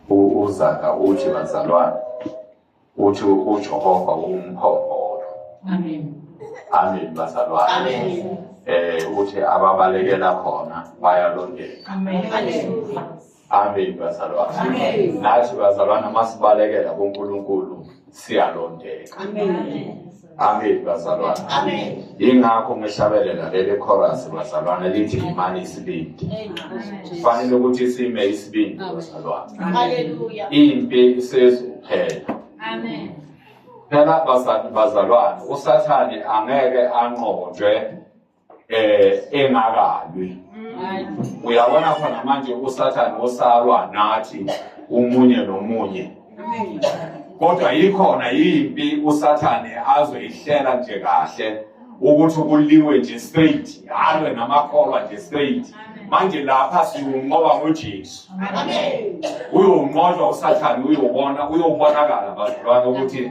uzaga uthi bazalwane uthi ujehova umphongolo amen amen bazalwane amen eh uthi ababalekela khona bayalondeka amen amen bazalwane amen nathi bazalwane masibalekela kuNkulunkulu siyalondeka amen bazalwane yingakho ngihlabelela leli chorus bazalwane lithi yimani isibindi kufanele ukuthi sime isibindi bazalwane impi isezuphela phela bazalwane usathane angeke anqotshwe eh engakalwi uyabona khona manje usathane osalwa nathi umunye nomunye kodwa yikhona yimpi usathane azoyihlela nje kahle ukuthi kuliwe nje straight halwe namakholwa nje straight manje lapha siwunqoba ngojesu uyowunqotshwa usathane uyobona uyobonakala bazalwane ukuthi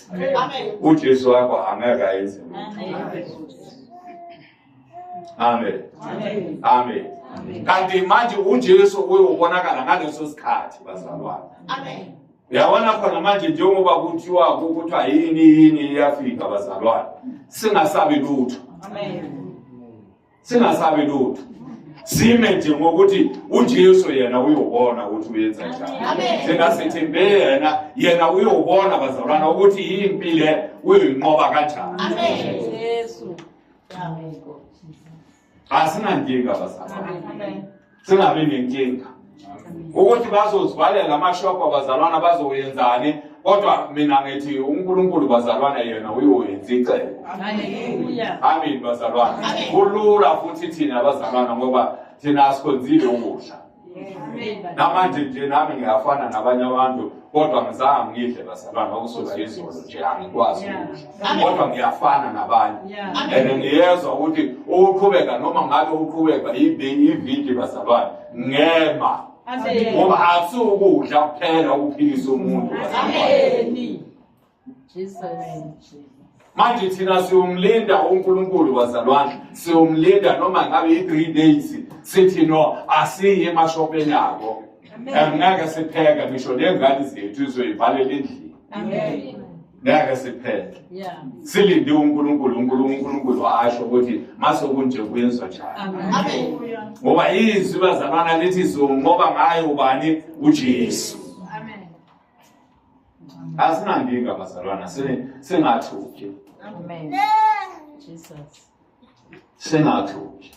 uJesu wakho angeke ayenze amen amen kanti manje uJesu uyobonakala ngaleso sikhathi bazalwane amen uyabona khona manje njengoba kuthiwa kuthiwa yini yini iyafika bazalwane singasabi lutho amen singasabi lutho sime nje ngokuthi uJesu yena uyobona ukuthi uyenza njani singasithembe yena yena uyobona bazalwana ukuthi yimpi le uyoyinqoba kanjani asinankinga bazalwana singabi nenkinga ukuthi bazozivalela amashophu abazalwana bazoyenzani kodwa mina ngithi unkulunkulu bazalwana yena uyoyenza icebo amin bazalwana kulula futhi thina bazalwana ngoba thina asikhonzile ukudla namanje nje nami ngiyafana nabanye abantu kodwa ngizange ngidle bazalwana okusuka izolo nje angikwazi ukudla kodwa ngiyafana nabanye and ngiyezwa ukuthi ukuqhubeka noma ngabe uqhubeka ividi basabani ngema ngoba asiwukudla kuphela ukuphilisa umuntu manje thina siwumlinda unkulunkulu wazalwandle siwumlinda noma ngabe i-three days sithi no asiyi emashopeni abo ngeke sipheke ngisho ney'ngane zethu izoyivalela endlini ngeke siphele silinde unkulunkulu unkulunkulu asho ukuthi mase kunje kuyenzwa njani ngoba izwi bazalwana lithi zonqoba ngayo ubani ujesu asinankinga bazalwana singathuki singathuki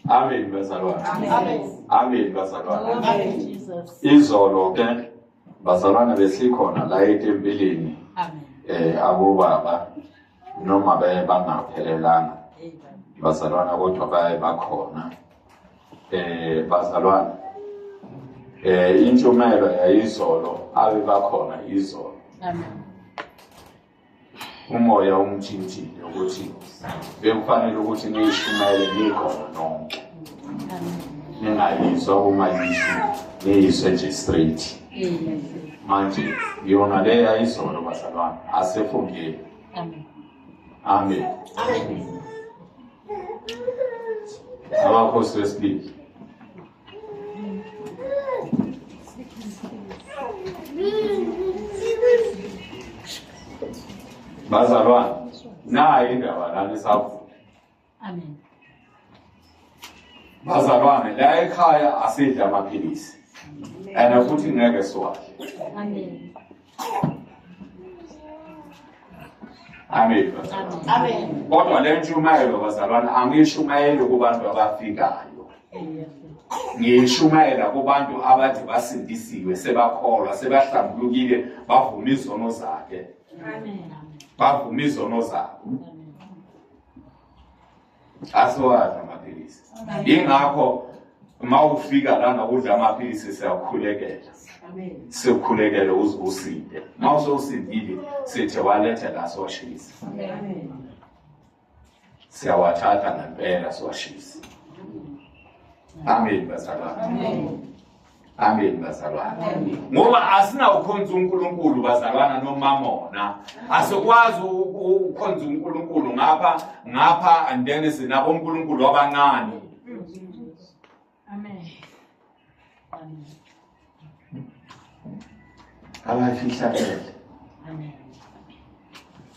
Amen bazalwane. Amen. Amen bazalwane. Amen Jesus. Izolo ke bazalwane besikhona la etempilini. Amen. Eh abobaba noma baye bangaphelelanga. Bazalwana kodwa baye bakhona. Eh bazalwane. Eh intshumayelo yayizolo abe bakhona izolo. Amen. umoya umthintile ukuthi bekufanele ukuthi niyishumayele nikhona nonke ningayizwa uma yisho niyiswe nje straight manje yona le yayizolo bazalwane asefungile amen abakhosi besibili bazalwane nayo indaba lana esavuka amen bazalwane la ekhaya asidla amaphilisi and futhi ngeke siwadle amen Amen. Amen. Kodwa le ntshumayelo bazalwana angishumayeli kubantu abafikayo. Ngishumayela kubantu abathi basindisiwe sebakholwa sebahlambulukile bavuma izono zakhe. Amen. Bavuma izono zakhe. asiwazi amaphilisi ingakho uma ufika lana udla amaphilisi siyakhulekela sikhulekele uze usinde uma usosindile sithe walethe la siwashisa siyawathatha ngempela siwashisa amen bazalwane Amen bazalwana. Ngoba asinawukhonza uNkulunkulu bazalwana nomamona. Asikwazi ukukhonza uNkulunkulu ngapha ngapha and then sinabo uNkulunkulu abancane. Amen. Amen. Abafihlakele. Amen.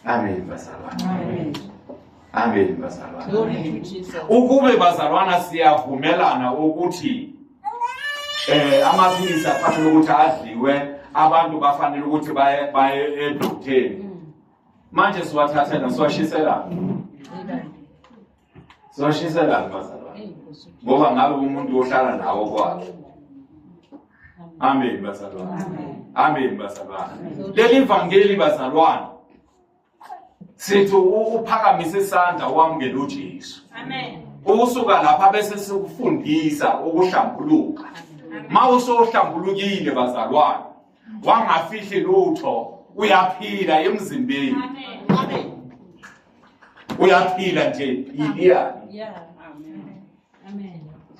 Amen bazalwana. Amen. Amen bazalwana. Ukube bazalwana siyavumelana ukuthi eh amaphilisi afanele ukuthi adliwe abantu bafanele ukuthi baye baye edokteni mm. manje siwathathela siwashisela siwashisela bazalwane ngoba ngabe umuntu ohlala nawo kwakhe amen bazalwane amen bazalwane leli vangeli bazalwane sithi uphakamise isandla wamukela uJesu amen usuka lapha bese sikufundisa ukuhlambuluka ma usohlambulukile bazalwane wangafihli lutho uyaphila emzimbeni uyaphila nje iyani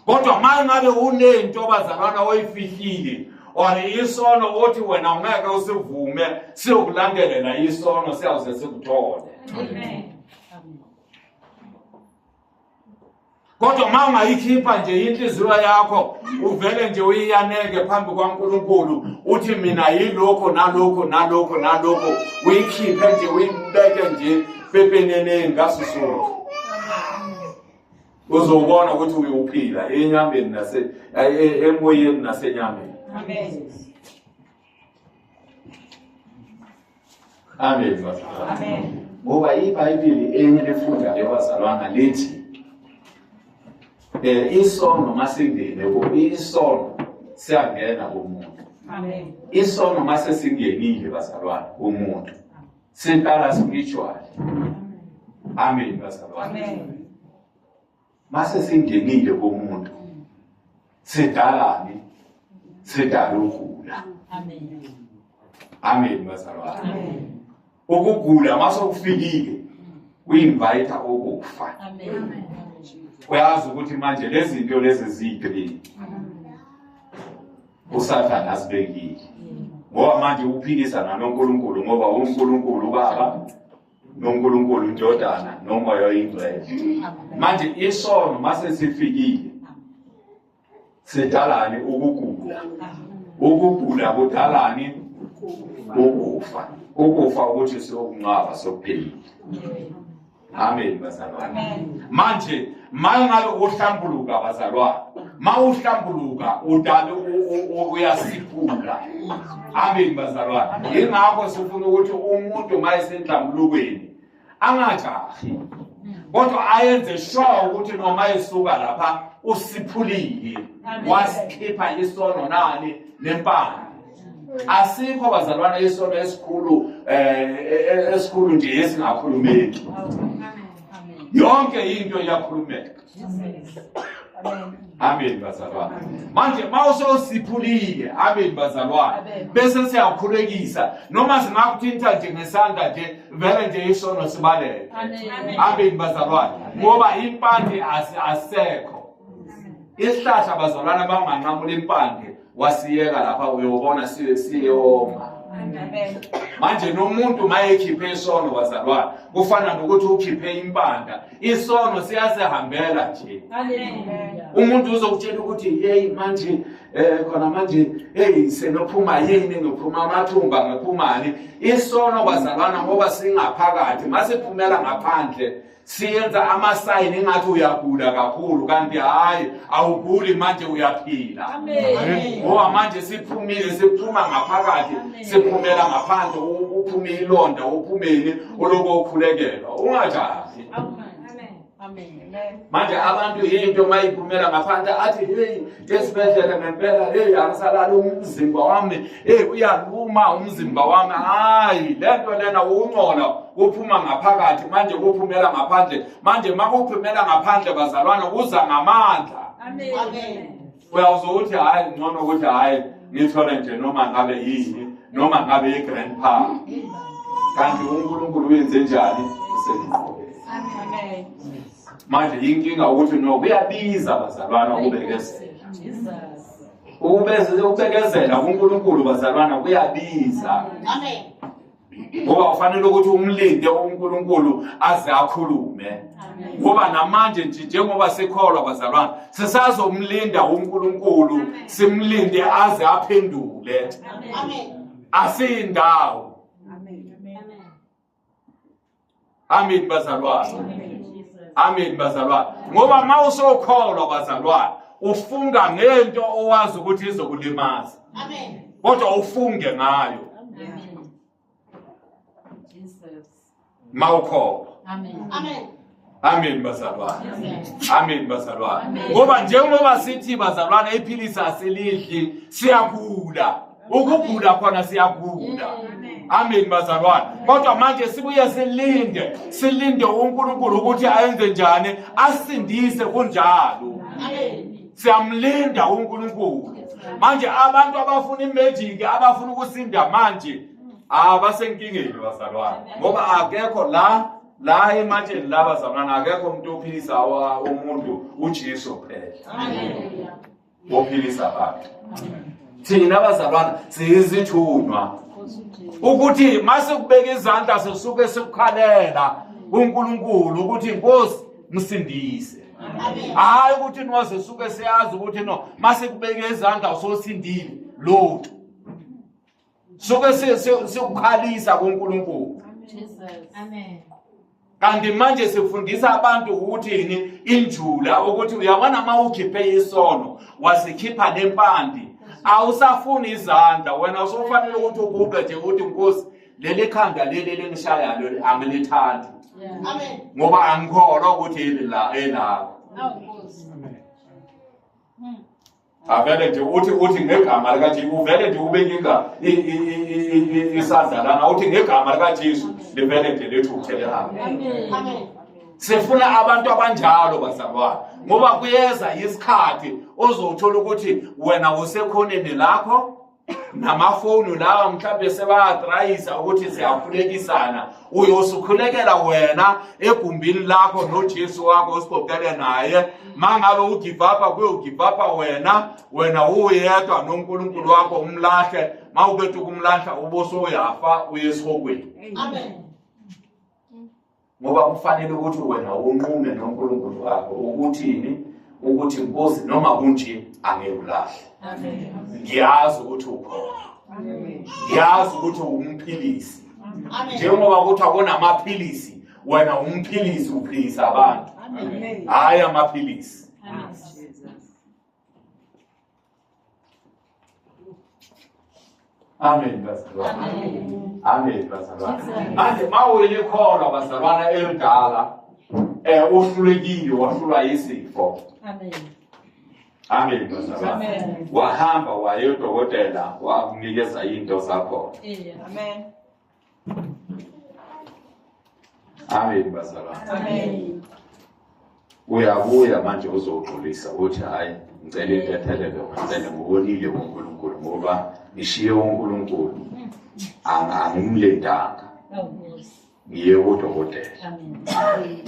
kodwa uma ngabe unento bazalwana oyifihlile or isono othi wena ungeke usivume siyokulandelela isono siyawuze sikuthole kodwa uma ungayikhipha nje inhliziyo yakho uvele nje uyiyaneke phambi kwankulunkulu uthi mina yilokho nalokho nalokho nalokho uyikhiphe nje uyibeke nje pepeneneni ngaso sonke uzobona ukuthi uyophila enyameni nase emoyeni nasenyameni amen amen amen ngoba ibhayibheli enye lefundayo bazalwana lithi um isono masingene isono siyangena kumuntu isono masesingenile bazalwana kumuntu siqala spiritual amen bazalwane amen mase singenile komuntu sidalani sidala ukugula amen amen bazalwane amen ukugula mase kufikile uyinvite ukufa amen uyazi ukuthi manje lezi zinto lezi ziyini usathane asibekile ngoba manje ukuphikisana nonkulunkulu ngoba unkulunkulu ubaba nonkulunkulu indodana nomoya oyingcwele manje isono mase sifikile sidalani ukugula ukugula kudalani ukufa ukufa ukuthi siyokunqaba sokuphila Amen bazalwane. Manje mangabe uhlambuluka bazalwane. Mawuhlambuluka udale uyasiphula. Amen bazalwane. Ingakho sifuna ukuthi umuntu mayesenhlambulukweni angajahi. Kodwa ayenze sure ukuthi noma esuka lapha usiphulile. Wasikhipha isono nani nempande. asikho abazalwana isonto esikhulu eh esikhulu nje esingakhulumeki yonke into iyakhulumeka amen bazalwane manje mawusosiphulile amen bazalwane bese siyakhulekisa noma singakuthinta nje ngesandla nje vele nje isono sibaleke amen bazalwane ngoba impande asekho isihlahla bazalwane banganqamula impande wasiyeka lapha uyobona siye siyoma manje nomuntu mayekhiphe isono bazalwane kufana nokuthi ukhiphe impanda isono siyasihambela nje umuntu uzokutshela ukuthi yeyi manje um khona manje eyi senophuma yini ngiphuma amathumba ngiphumani isono bazalwana ngoba singaphakathi masiphumela ngaphandle siyenza amasayini engathi uyagula kakhulu kanti hhayi awuguli manje uyaphila ngoba manje siphumile siphuma ngaphakathi siphumela ngaphandle uphume ilonda uphumeni oloko ukhulekelwa ungajahi manje abantu yinto mayiphumela ngaphandle athi heyi esibhedlela ngempela heyi angisalali umzimba wami heyi uyaluma umzimba wami hayi le nto lena wungcono kuphuma ngaphakathi manje kuphumela ngaphandle manje uma kuphumela ngaphandle bazalwane kuza ngamandla uyawuze ukuthi hhayi ngcono ukuthi hhayi ngithole nje noma ngabe yini noma ngabe yi-grand pa kanti unkulunkulu uyenze njani usenqobe manje yinkinga ukuthi no kuyabiza bazalwana ukubekezela ukubekezela kunkulunkulu bazalwana kuyabiza ngoba ufanele ukuthi umlinde unkulunkulu aze akhulume ngoba namanje nje njengoba sikholwa bazalwana sisazomlinda unkulunkulu simlinde aze aphendule asiyindawo Amen bazalwane. Amen bazalwane. Ngoba uma usokholwa bazalwane ufunga ngento owazi ukuthi izokulimaza. Amen. Kodwa ufunge ngayo. Amen. Jesus. Mawukholwa. Amen. Amen. Amen bazalwane. Amen bazalwane. Ngoba njengoba sithi bazalwane iphilisi asilidli siyagula. Ukugula khona siyagula. Amen bazalwane. Kodwa manje sibuye silinde, silinde uNkulunkulu ukuthi ayenze njani, asindise kunjalo. Amen. Siyamlinda uNkulunkulu. Manje abantu abafuna imagic, abafuna ukusinda manje abasenkingeni bazalwane. Ngoba akekho la la ematsheni laba zamana akekho umuntu ophilisa umuntu uJesu kuphela ophilisa abantu thina abazalwana siyizithunywa ukuthi mase kubeka izandla sisuke sikukhalela uNkulunkulu ukuthi inkosi msindise hayi ukuthi nwaze suke siyazi ukuthi no mase kubeka izandla usosindile lotho suke sikukhalisa kuNkulunkulu amen kanti manje sifundisa abantu ukuthini injula ukuthi uyabona uma ukhiphe isono wasikhipha nempandi awusafuni izandla wena usufanele ukuthi uguqe nje ukuthi nkosi leli khanda leli elingishayayo angilithandi ngoba angikholwa ukuthi elilakho avele nje uthi uthi ngegama likaJesu uvele nje ubekika isandla lana uthi ngegama likaJesu livele nje lethu ukuthelelana sifuna abantu abanjalo bazalwane ngoba kuyeza isikhathi ozothola ukuthi wena usekhoneni lakho namafowunu lawa mhlawumbe sebayatrayisa ukuthi siyakhulekisana uyosukhulekela wena egumbini lakho nojesu wakho usikokele naye ma ngabe ugivapha kuye ugivapha wena wena uyedwa nonkulunkulu wakho umlahle ma ubethi ukumlahla uboso uyafa uye esihokweni amen ngoba kufanele ukuthi wena unqume noNkulunkulu wakho ukuthini ukuthi nkosi noma kunje angeke ulahle ngiyazi ukuthi ukhona ngiyazi ukuthi umphilisi njengoba kuthi akonamaphilisi wena umphilisi uphilisa abantu hhayi amaphilisi Amen bazalwana. Amen bazalwana. Manje mawele khona bazalwana elidala eh uhlulekile wahlulwa yisifo. Amen. Amen bazalwana. Wahamba waye udokotela wakunikeza into zakho. Amen. Amen bazalwane. Amen. Uyabuya manje uzogxolisa uthi hayi ngicela intethelelo ngicela ngokonile kuNkulunkulu ngoba ngishiye uNkulunkulu angimlendanga ngiye kodokotela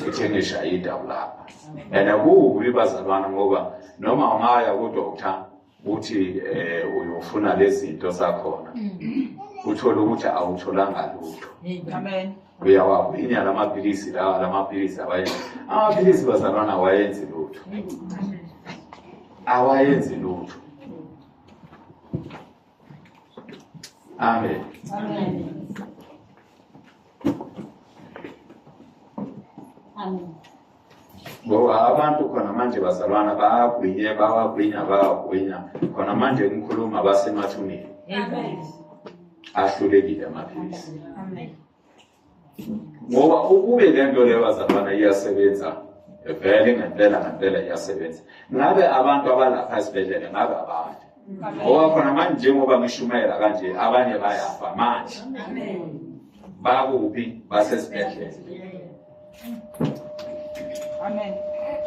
ngithe ngishaye indawo lapha and akubi bazalwane ngoba noma ungaya kodokotela uthi eh uyofuna lezinto zakhona mm. uthole ukuthi awutholanga lutho amen uyawawinya lamaphilisi lawa lamaphilisi awayenzi amaphilisi bazalwana awayenzi lutho awayenzi lutho amen amen amen ngoba abantu khona manje bazalwana bayagwinya bawagwinya bawagwinya khona manje umkhuluma basemathuneni ahlulekile amaphilisi ngoba ukube le nto leyo bazalwana iyasebenza vele ngempela ngempela iyasebenza ngabe abantu abalapha esibhedlela ngabe abantu ngoba khona manje njengoba ngishumayela kanje abanye bayafa manje bakuphi basesibhedlela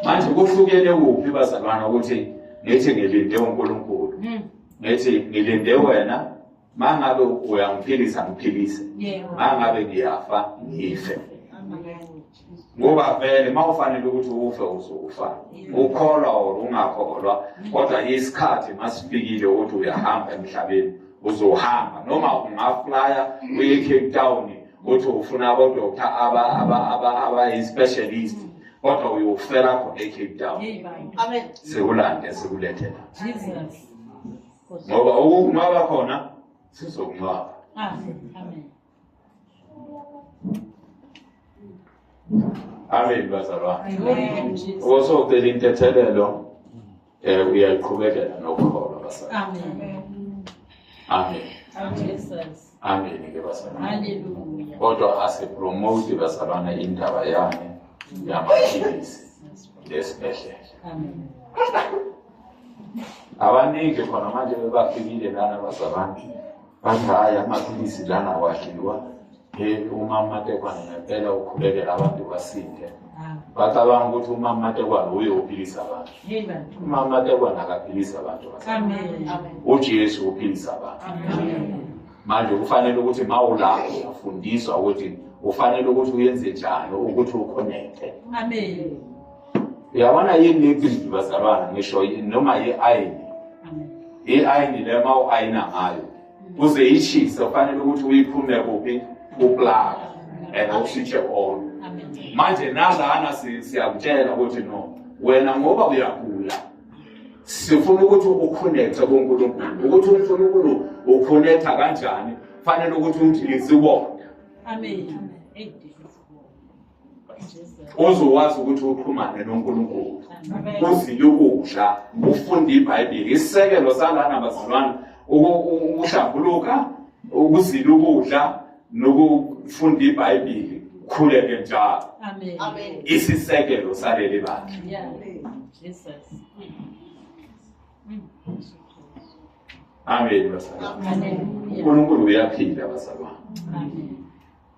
manje kuhlukene kuphi bazalwana ukuthi ngithi ngilinde unkulunkulu hmm. ngithi ngilinde wena mangabe uyangiphilisa ngiphilise mangabe ngiyafa ngife ngoba vele uma ufanele ukuthi ufe uzofa ukholwa or ungakholwa kodwa isikhathi masifikile ukuthi uyahamba emhlabeni uzohamba noma ungaflya uye ecape town uthi ufuna abodoktar abayi-specialist kodwa uyofela khona ecape town sekulande sekulethela ngoba ukunqaba khona sizokunqaba amen bazalwane osocela intethelelo um uyaqhubekela nokukholwa bazalwane amen Ameni ke bazalwane. Hallelujah. Kodwa asipromote bazalwane indaba yami yamaphilisi lesibhedlela. Amen. Abaningi khona manje bebafikile lana bazalwane. Bathi hayi amaphilisi lana wadliwa. Hey umama tekwana ngempela ukhulekela abantu basinde. bacabanga ukuthi umama matekwane uye uphilisa abantu umama matekwane akaphilisa abantu ujesu uphilisa abantu manje kufanele ukuthi ma ulapho ufundiswa ukuthi ufanele ukuthi uyenze njani ukuthi ukhonekte uyabona yini lebhibhi bazalwana ngisho noma ye-ayini i-ayini le ma u-ayina ngayo kuze ishise kufanele ukuthi uyiphume kuphi kuplaka and usitshe all manje nalana siyakutshela ukuthi no wena ngoba uyagula sifuna ukuthi ukhonekthe kuNkulunkulu ukuthi uNkulunkulu ukhonektha kanjani fanele ukuthi uthi izibonda amen uzowazi ukuthi uxhumane noNkulunkulu uzile ukudla ufunde iBhayibheli isisekelo salana bazalwane ukuhlambuluka ukuzila ukudla nokufunda iBhayibheli khuleke njalo amen isisekelo saleli bakhe Jesus Amen bazalwane. Amen. uNkulunkulu uyaphila bazalwane. Amen.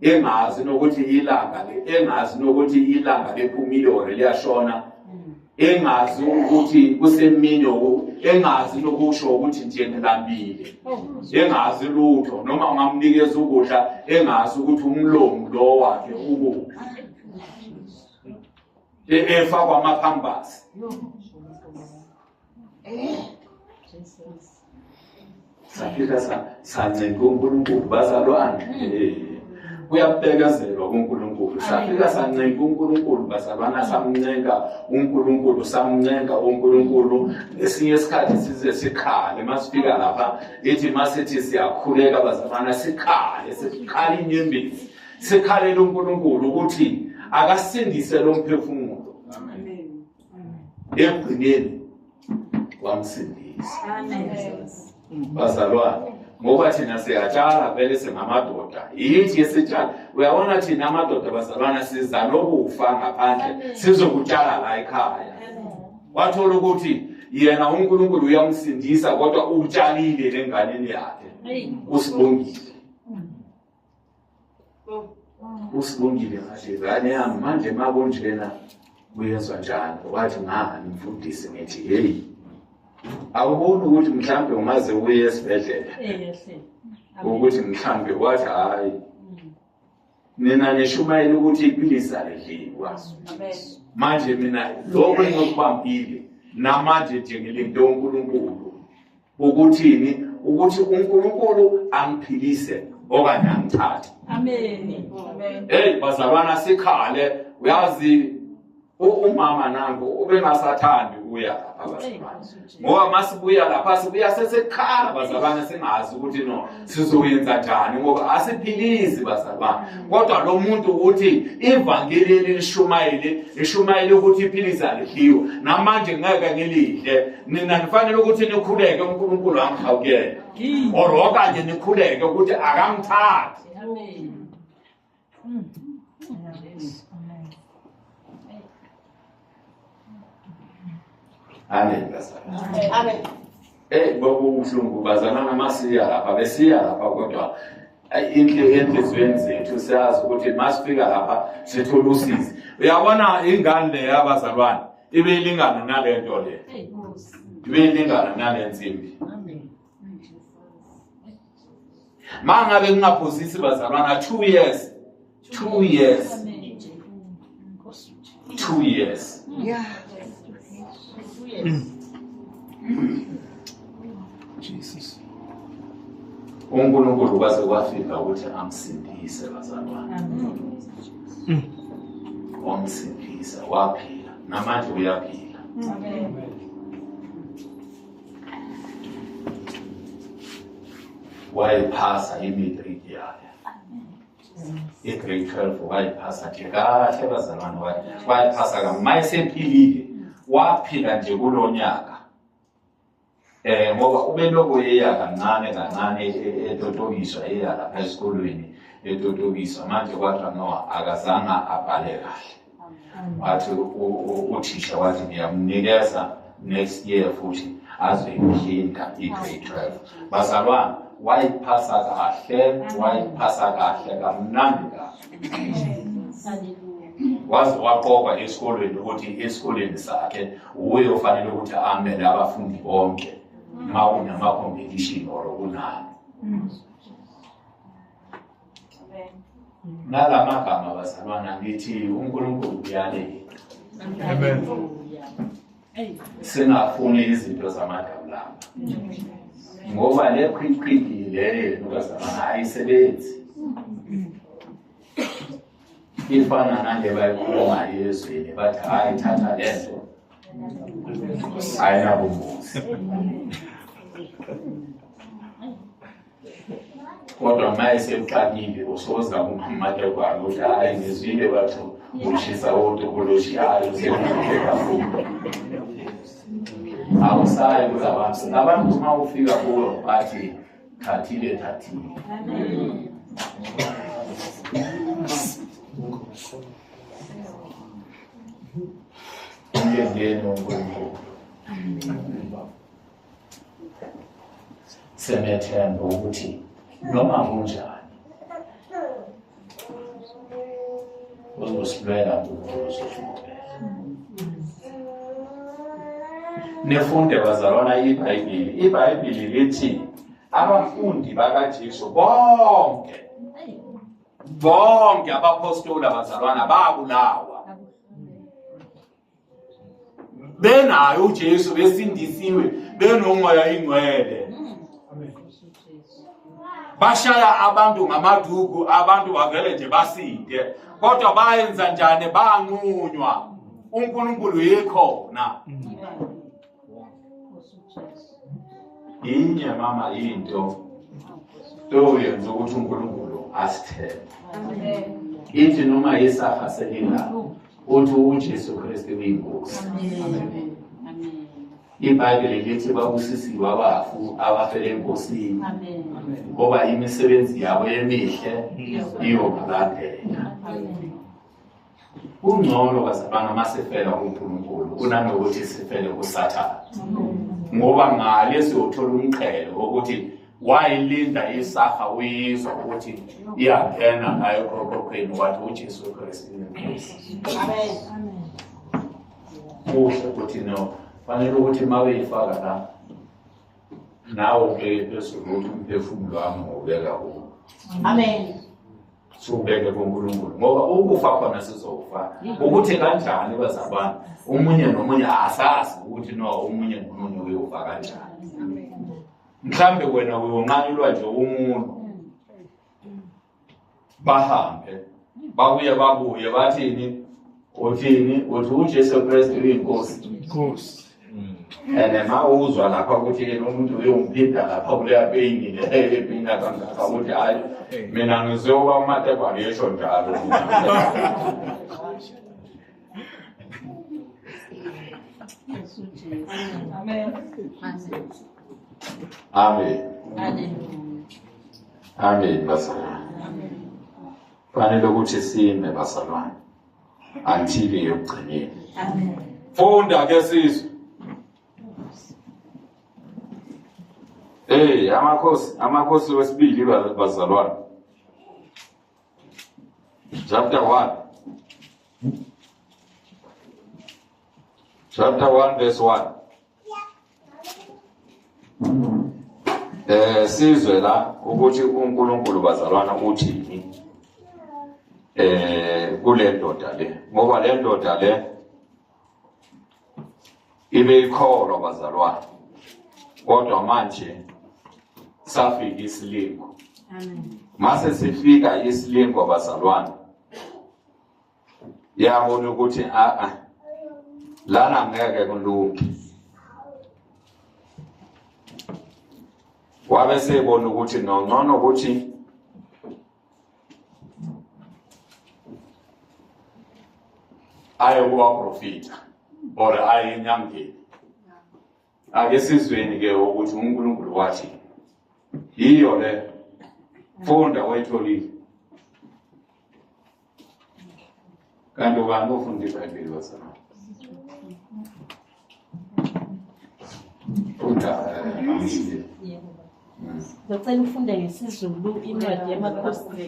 engazi nokuthi ilanga engazi nokuthi ilanga liphumile or liyashona engazi ukuthi kusemini engazi nokusho ukuthi nje ngilambile engazi lutho noma ungamnikeza ukudla engazi ukuthi umlomo lo wakhe ukuphi efakwa amaphambasi safika sancenga unkulunkulu bazalwane kuyabekezelwa kuNkulunkulu safika sancenga uNkulunkulu bazalwana samncenga uNkulunkulu samncenga uNkulunkulu esinye isikhathi size sikhale masifika lapha ithi masithi siyakhuleka bazalwana sikhale sikhale inyembezi sikhalela uNkulunkulu ukuthi akasindise lo mphefumulo ekugcineni wamsindisa bazalwane ngoba thina siyatshala vele singamadoda yithi esitshala uyabona thina amadoda bazalwana siza nokufa ngaphandle sizokutshala la ekhaya wathola ukuthi yena unkulunkulu uyamsindisa kodwa utshalile lenganeni yakhe usibongile usibongile ngathi ngane yami manje ma kunjena kuyezwa njani wathi ngani mfundisi ngithi heyi awuboni ukuthi mhlawumbe ungaze uye esibhedlela ukuthi mhlawumbe wathi hhayi nina nishumayela ukuthi iphilisi alidliwa manje mina lokho engikubambile namanje nje ngilinde unkulunkulu Ukuthini? Ukuthi uNkulunkulu angiphilise okanye angithathe. Amen. Amen. Hey bazalwana sikhale uyazi umama nango ubengasathandi uya lapha bazalwane. Ngoba masibuya lapha sibuya sesekhala bazalwane singazi ukuthi no sizoyenza njani ngoba asiphilizi bazalwane kodwa lo muntu uthi ivangeli elilishumayele lishumayele ukuthi iphilisi alidliwe namanje ngeke ngilidle nina nifanele ukuthi nikhuleke unkulunkulu angihawukele or okanye nikhuleke ukuthi akamthathi Amen. Amen. Eh kwakubuhlungu bazana namasiya lapha besiya lapha kodwa enhliziyweni zethu siyazi ukuthi masifika lapha sithola usizi uyabona ingane le yabazalwane ibeyilingana nale nto le ibeyilingana nale nsimbi ma ngabe kungaphosisi bazalwana two years two years two years yeah. Jesus. unkulunkulu kwaze kwafika ukuthi amsindise bazalwane wamsindisa waphila namanje uyaphila Amen. wayiphasa i-matric yakhe i-grade twelve wayiphasa nje kahle bazalwane wayiphasa ka ma esephilile waphila nje kulo nyaka um ngoba ubeloko eya kancane kancane e, e, etotokiswa eya lapha esikolweni etotokiswa manje kwathiwa no akazange abhale kahle wathi uthisha wathi ngiyamnikeza next year futhi azoyiphinda i-grade 12 bazalwana wayiphasa kahle wayiphasa kahle kamnandi kahle waze waqokwa esikolweni ukuthi esikolweni sakhe wuye ofanele ukuthi amele abafundi bonke uma kunama-competition or kunani nala magama bazalwana ngithi unkulunkulu uyaleli singafuni izinto zamadawulama ngoba le khwikhwidi leyo bazalwana ayisebenzi ifana nale bayikhuluma ezweni bathi hayi thatha le nto ayinabungozi kodwa maye sekuqalile usoza kumamata kwami ukuthi hayi ngizwile bathu ushisa wotokoloshi hayi usemuhle kakhulu awusayi kuza abantu abantu uma ufika kuwe bathi thathile thathile Thank you. senethemba ukuthi noma kunjani uzosilwela ukuze nifunde bazalwana ibhayibhili ibhayibhili lithi abafundi bakajesu bonke bonke abapostoli abazalwana babulawa benayo uJesu besindisiwe benomoya ingcwele bashaya abantu ngamaduku abantu bavele nje basinde kodwa bayenza njani banqunywa uNkulunkulu yikhona inye mama into toyenza ukuthi uNkulunkulu asithembe ithi noma yesafa selingako uthi uJesu Kristu uyinkosi. IBhayibheli lithi babusisiwe abafu abafele enkosini ngoba imisebenzi yabo emihle iyobalandela. Kungcono bazalwana uma sifela kuNkulunkulu kunanokuthi sifele kuSathane ngoba ngale siyothola umqhele wokuthi wayilinda isafa uyizwa ukuthi iyangena ngayo ekhokokhweni wathi ujesu kristu inenkosi kuhle ukuthi no fanele ukuthi uma beyifaka la nawe ubeke phezulu ukuthi umphefumulo wami ngobeka kuwo amen siwubeke kunkulunkulu ngoba ukufa khona sizofa ukuthi kanjani bazabana omunye nomunye asazi ukuthi no omunye nomunye uyofa kanjani mhlambe wena uyonqanyulwa nje umuntu bahambe babuye babuye bathini uthini uthi uJesu Kristu uyinkosi inkosi and ma uzwa lapha ukuthi yena umuntu uyomphinda lapha kuleya peyini le ephinda kangaka ukuthi hayi mina ngizoba umatekwa ngisho njalo Amen. Amen. Amen. Amen bazalwane. Amen. Fanele ukuthi sime bazalwane. Until yokugcineni. Amen. Funda ke sizwe. Hey, amakhosi, amakhosi wesibili bazalwane. Chapter 1. Chapter 1 verse 1. Eh sizwe la ukuthi uNkulunkulu bazalwana uthini eh kule ndoda le ngoba le ndoda le ibe ikholwa bazalwana kodwa manje safika isilingo mase sifika isilingo bazalwana yabona ukuthi a ah, a ah, lana ngeke kulunge wabe sebona ukuthi nongcono ukuthi aye kubaprofita or aye enyangeni ake sizweni ke ukuthi uNkulunkulu wathi yiyo le funda wayitholile kanti ubani ofunda ibhayibheli bazalwane Ngicela ufunde ngesiZulu incwadi yamakhosini.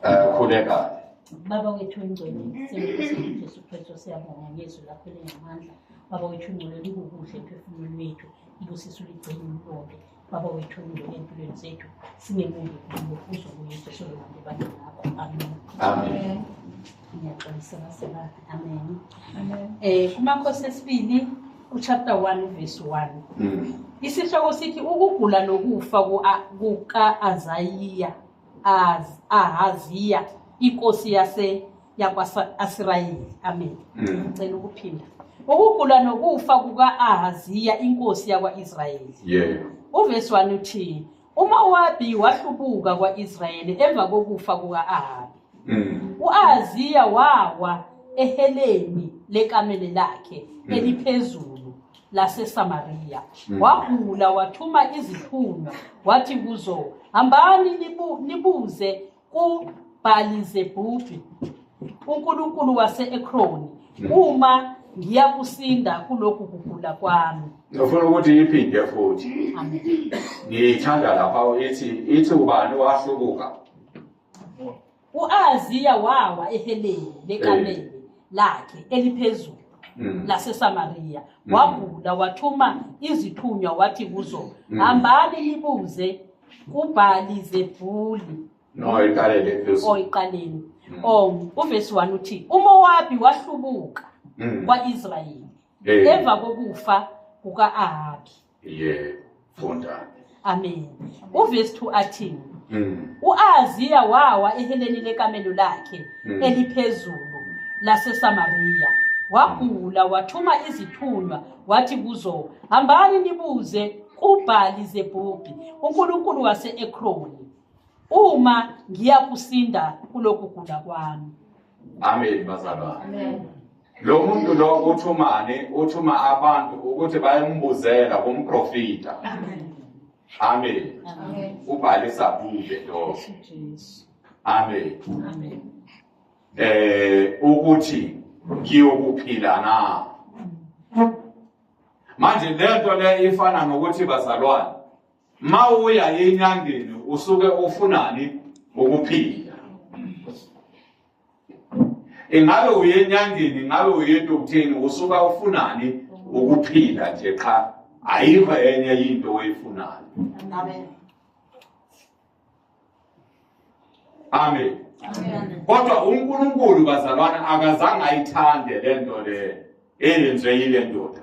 Eh khuleka. Baba wethu ongcwele, siyakubonga Jesu Kristu siyabonga ngezwi lakho linamandla. Baba wethu ongcwele likukuhle emphefumulweni wethu, ibusisa uligcine ulonke. baba wethu ungene empilweni zethu singemubi kubo uzobuye uzosololande abantu bakho amen amen ngiyaxolisa baseba amen um kumakhosi esibili uchapter one verse one mm. isihloko sithi ukugula nokufa kuka-azayiya ahaziya inkosi yase yakwa-asirayeli amen mm. ngicela ukuphinda ukugula nokufa kuka-ahaziya inkosi yakwa-israyeli yeah. uvesi wani uthi umowabi wahlubuka kwa-israyeli emva kokufa kuka-ahabi mm. u-ahaziya wawa eheleni lekamele lakhe mm. eliphezulu laseSamariya mm. wagula wathuma izithunywa wathi kuzo hambani nibu, nibuze kuBhalizebhubi uNkulunkulu wase-Ekroni mm. uma ngiyakusinda kulokhu kugula kwami ngifuna ukuthi iphinde futhi ngiyithanda lapha ithi ithi ubani wahlubuka U-Ahaziya wawa eheleni lekamele lakhe eliphezulu Mm. laseSamariya Mm. wagula wathuma izithunywa wathi kuzo Mm. hambani nibuze kubhali zebhuli No, iqale le phezulu. oyiqaleni Mm. o uvesi 1 uthi umowabi wahlubuka Mm. kwa-israyeli Eh. emva kokufa kuka-ahabi Yebo, funda. Amen. Uverse 2 athini? Mm. U-Ahaziya wawa eheleni lekamelo lakhe Mm. eliphezulu laseSamariya. Wagula wathuma izithunywa wathi kuzo, "Hambani nibuze kuBhali Zebubhi, uNkulunkulu wase-Ekroni, uma ngiyakusinda kulokugula kwami." Amen bazalwane. Amen. Lo muntu lo uthumani uthuma abantu ukuthi bayembuzela kumprofita. Amen. Amen. Amen. Ubhale sabule lo. Amen. Amen. Eh ukuthi ngiyokuphila na? Manje lento le ifana nokuthi bazalwane. Mawuya enyangeni usuke ufunani ukuphila. ingabe uye enyangeni ingabe uye edokutheni usuka ufunani ukuphila nje qha ayikho enye into oyifunayo amen amen kodwa unkulunkulu bazalwana akazange ayithande le nto le eyenziwe yile ndoda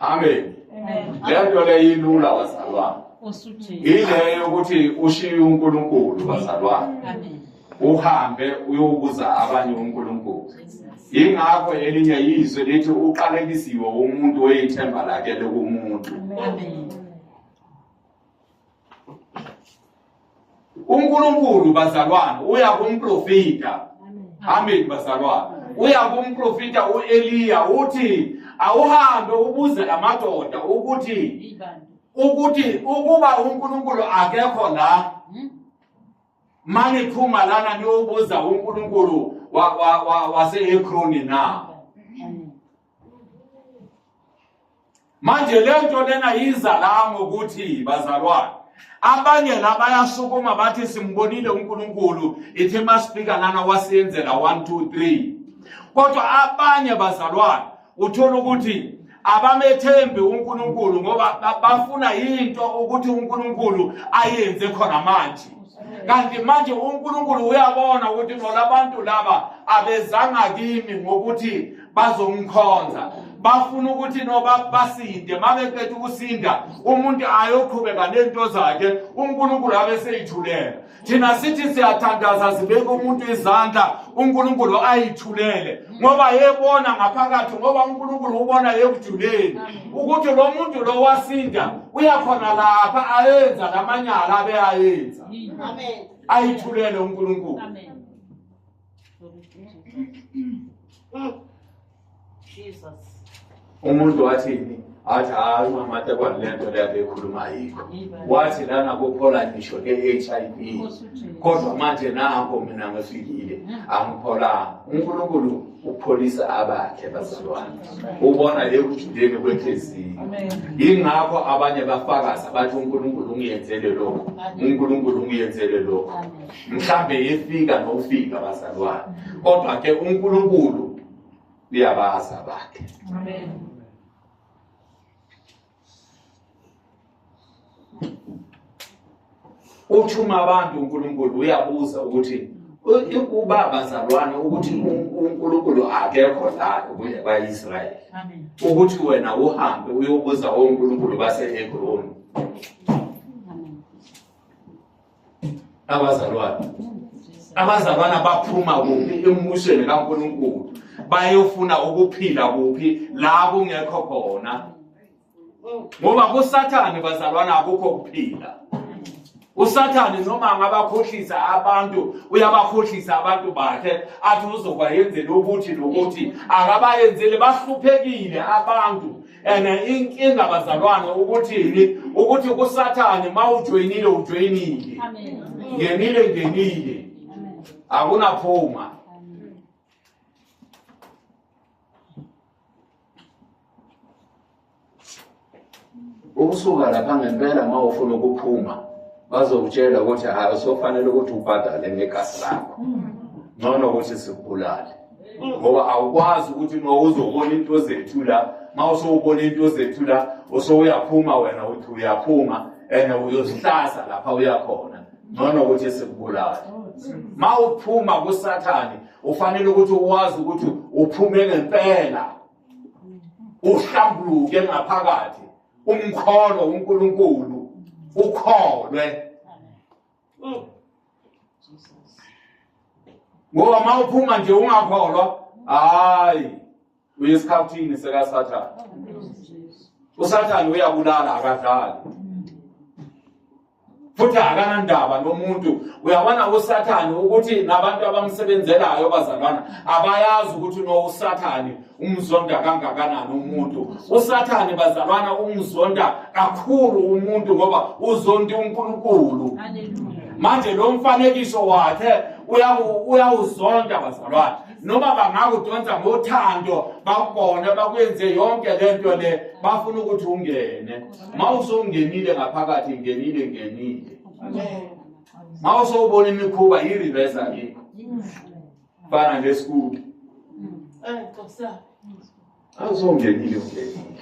amen le nto le yilula wazalwane yileyo ukuthi ushiye unkulunkulu wazalwane uhambe uyobuza abanye unkulunkulu yingakho elinye yizwe lithi uqalekisiwe umuntu oyithemba lakhe lokumuntu uNkulunkulu bazalwane uya kumprofita amen bazalwane uya kumprofita uEliya uthi awuhambe ubuze amadoda ukuthi ukuthi ukuba uNkulunkulu akekho la hmm? maniphuma lana niyobuza uNkulunkulu waseHekroni na manje le nto lena yiza la ngokuthi bazalwane abanye la bayasukuma bathi simbonile unkulunkulu ithi masifika lana wasiyenzela 1 2 3 kodwa abanye bazalwane uthola ukuthi abamethembi uNkulunkulu ngoba bafuna into ukuthi uNkulunkulu ayenze khona manje kanti manje uNkulunkulu uyabona ukuthi nolabantu laba abezanga kimi ngokuthi bazomkhonza bafuna ukuthi noba basinde mabeqeda ukusinda umuntu ayoqhubeka nento zakhe uNkulunkulu abe seyithulela thina sithi siyathandaza sibeke umuntu izandla uNkulunkulu ayithulele ngoba yebona ngaphakathi ngoba uNkulunkulu ubona yekujuleni ukuthi lo muntu lo wasinda uyakhona lapha ayenza lamanyala abe ayenza ayithulele uNkulunkulu amen umuntu wathini athi hayi umamatekwane le nto leyabe ekhuluma yikho wathi lana kuphola ngisho le-h i v kodwa manje nango mina ngifikile angipholanga unkulunkulu ukupholisa abakhe bazalwane ubona ekujuleni kwenhliziyo yingakho abanye bafakaza bathi unkulunkulu ungiyenzele lokhu unkulunkulu ungiyenzele lokhu mhlambe efika nokufika bazalwane kodwa ke uNkulunkulu uyabazi abakhe amen uthuma abantu uNkulunkulu uyabuza ukuthi ukuba bazalwane ukuthi uNkulunkulu akekho la kwaIsrael amen ukuthi wena uhambe uyobuza oNkulunkulu baseHebroni abazalwane abazalwana baphuma kuphi embusweni kaNkulunkulu bayofuna ukuphila kuphi la kungekho khona ngoba kusathane bazalwana akukho kuphila usathane noma angabakhohlisa abantu uyabakhohlisa abantu bakhe athi uzobayenzela ukuthi nokuthi akabayenzeli bahluphekile abantu and inkinga bazalwane ukuthi ukuthi kusathane mawujoyinile ujoyinile ngenile ngenile akunaphuma ukusuka lapha ngempela uma ufuna ukuphuma bazokutshela ukuthi hayi sofanele ukuthi ubhadale ngegazi lakho ngcono ukuthi sikubulale ngoba awukwazi ukuthi uma uzobona into zethula uma usowubona into zethula usowuyaphuma wena uthi uyaphuma and uyozihlasa lapha uyakhona ngcono ukuthi sikubulale ma uphuma kusathane ufanele ukuthi uwazi ukuthi uphume ngempela uhlambuluke ngaphakathi umkholo uNkulunkulu ukholwe ngoba uma uphuma nje ungakholwa hayi uyesikhathini sekasathane usathane uyabulala akadlali futhi akanandaba nomuntu uyabona usathane ukuthi nabantu abamsebenzelayo bazalwana abayazi ukuthi unowusathane umzonda kangakanani umuntu usathane bazalwana umzonda kakhulu umuntu ngoba uzonda uNkulunkulu manje lo mfanekiso wakhe uyawuzonda bazalwana noma bangakudonsa ngothando bakubone bakwenze yonke le nto le bafuna ukuthi ungene ma usowungenile ngaphakathi ngenile ngenile ma usowubona imikhuba yi-reversa yini Fana nje school. Eh, Xhosa. Awuzongenile ungenile.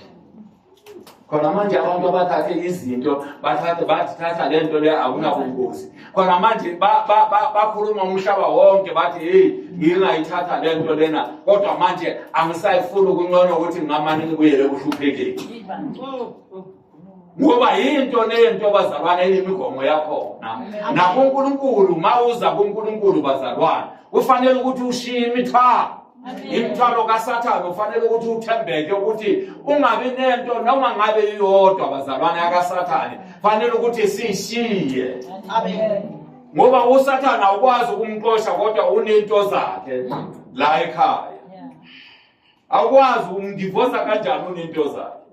khona manje abantu abathathe izinto bathathe bathi thatha le nto le akunabungozi khona manje bakhuluma umhlaba wonke bathi heyi ngingayithatha le nto lena kodwa manje angisayifuni ukuncono ukuthi ngingamane ngibuyele kuhluphekeni ngoba yinto nento bazalwane eyimigomo yakhona nakunkulunkulu uma uza kunkulunkulu bazalwane kufanele ukuthi ushiye imithwalo imithwalo kasathane ufanele ukuthi uthembeke ukuthi ungabi nento noma ngabe iyodwa bazalwane yakasathane fanele ukuthi siyishiye ngoba usathane awukwazi ukumxosha kodwa unento zakhe la ekhaya awukwazi ukumdivosa kanjani unento zakhe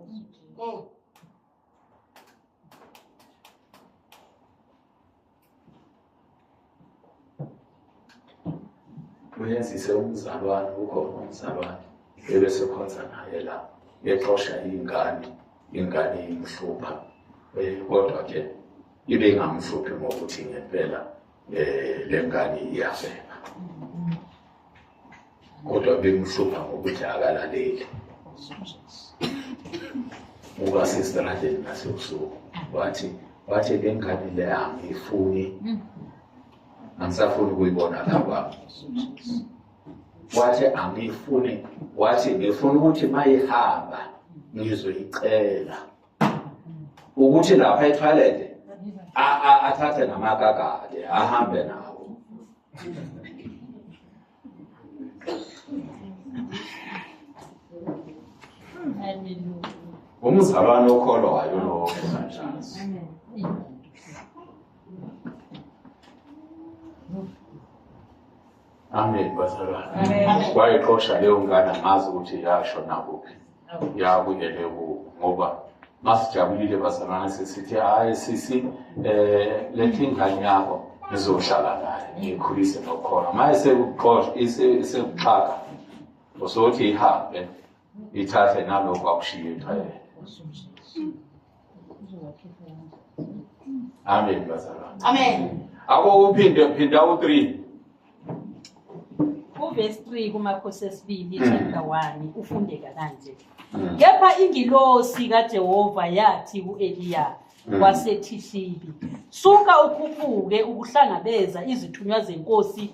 uyenzise umzalwane ukhona umzalwane ebesekhonza naye la exosha iy'ngane ingane imhlupha um eh, kodwa ke ibe ingamhluphi ngokuthi ngempela um le ngane iyavela kodwa bemhlupha ngokuthi akalaleli uba sesitradeni nasebusuku wathi wathi bengani le angiyifuni angisafuni ukuyibona la kwami wathi angiyifuni wathi ngifuna ukuthi mayihamba ngizoyicela ukuthi lapha etoilet athathe namakakade ahambe nawo umzalwane okholwayo lowo kunanjasi Amen bazalwane. Wayexosha leyo ngane ngazi ukuthi yasho nakuphi. Yabuyele ku ngoba masijabulile bazalwane sisithi hayi sisi eh lethi ingane yakho ngizohlala naye ngikhulise nokhona. Maye sekuxosha isekuxaka. Usothi ihambe ithathe nalokho akushiye emhlabeni amen bazalwane amen abo uphinde phinda u3 uvesi 3 kumakhosi esibili hmm. chapter 1 ufundeka kanje hmm. kepha ingilosi kajehova yathi u-eliya Mm. wasethishibi suka ukhuphuke ukuhlangabeza izithunywa zenkosi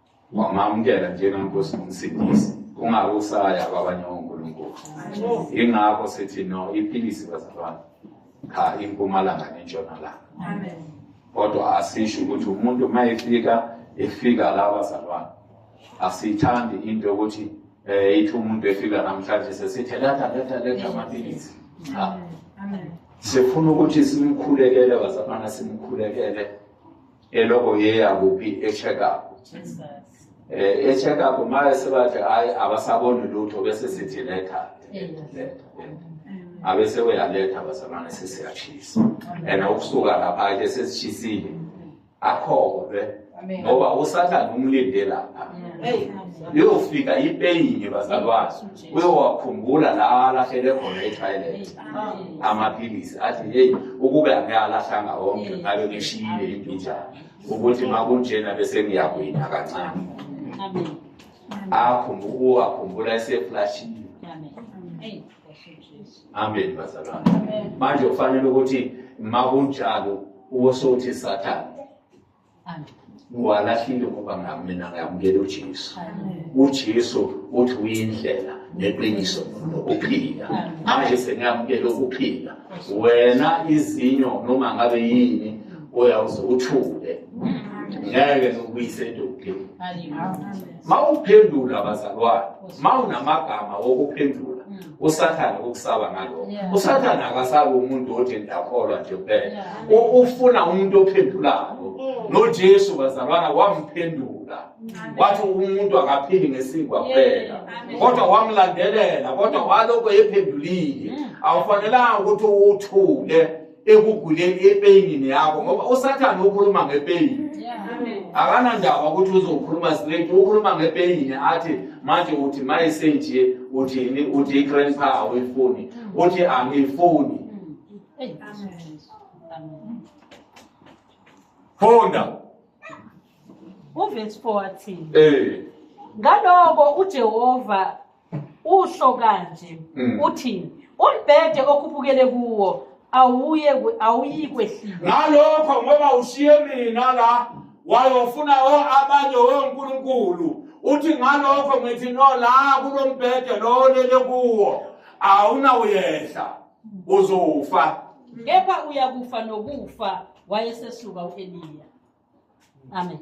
Ungamamukela njengenkosi nomsindisi kungabe usaya kwabanye onkulunkulu yingakho sithi no iphilisi bazalwane cha impumalanga nentshonalanga kodwa asisho ukuthi umuntu uma efika efika la bazalwane asiyithandi into yokuthi um ithi umuntu efika namhlanje sesithe letha letha letha amaphilisi cha sifuna ukuthi simkhulekele bazalwana simkhulekele eloko yeya kuphi e-check up eh e-check up maye sebathi hayi abasaboni lutho bese sithi letha abese uyaletha bazalwane sesiyashisa and ukusuka lapha ke sesishisile akhove ngoba usathane umlinde lapha liyofika ipeyini bazalwane uyowakhumbula la alahlele khona etoilet amaphilisi athi heyi ukube ake alahlanga wonke ngabe ngishiyile imbinjana ukuthi makunjena bese ngiyakuyina kancane uwakhumbula eseflashile amen bazalwane manje kufanele ukuthi makunjalo uwosothi sathane Ngwalahlile ngoba ngami mina ngiyamukela uJesu. UJesu uthi uyindlela neqiniso nokuphila. Manje sengiyamukela ukuphila. Wena izinyo noma ngabe yini uyawuze uthule. Ngeke ngikuyise edodeni. mawuphendula bazalwane mawunamagama wokuphendula mm. usathane ukusaba ngaloko usathane akasabi umuntu othi ndakholwa nje kuphela ufuna umuntu ophendulayo mm. nojesu bazalwana wamphendula mm. wathi umuntu akaphili ngesinkwa kuphela kodwa wamlandelela kodwa waloko ephendulile awufanelanga ukuthi uthule ekuguleni epeyinini yakho ngoba usathane ukhuluma ngepeyini akanandaba ukuthi uzokhuluma straight ukhuluma ngepeyini athi manje uthi mayisenje uthini uthi i-grandpa awuyifuni uthi angiyifuni funda uvesi 4 athini um ngaloko ujehova usho kanje mm. uthini umbhede okhuphukele kuwo awuye awuyikwehlika ngalokho ngoba ushiye mina la wayofuna o abanye wonkulunkulu uthi ngalokho ngithi no la kulombhede lo olele kuwo awunawuyehla uzofa kepha uyakufa nokufa wayesesuka u-eliya amen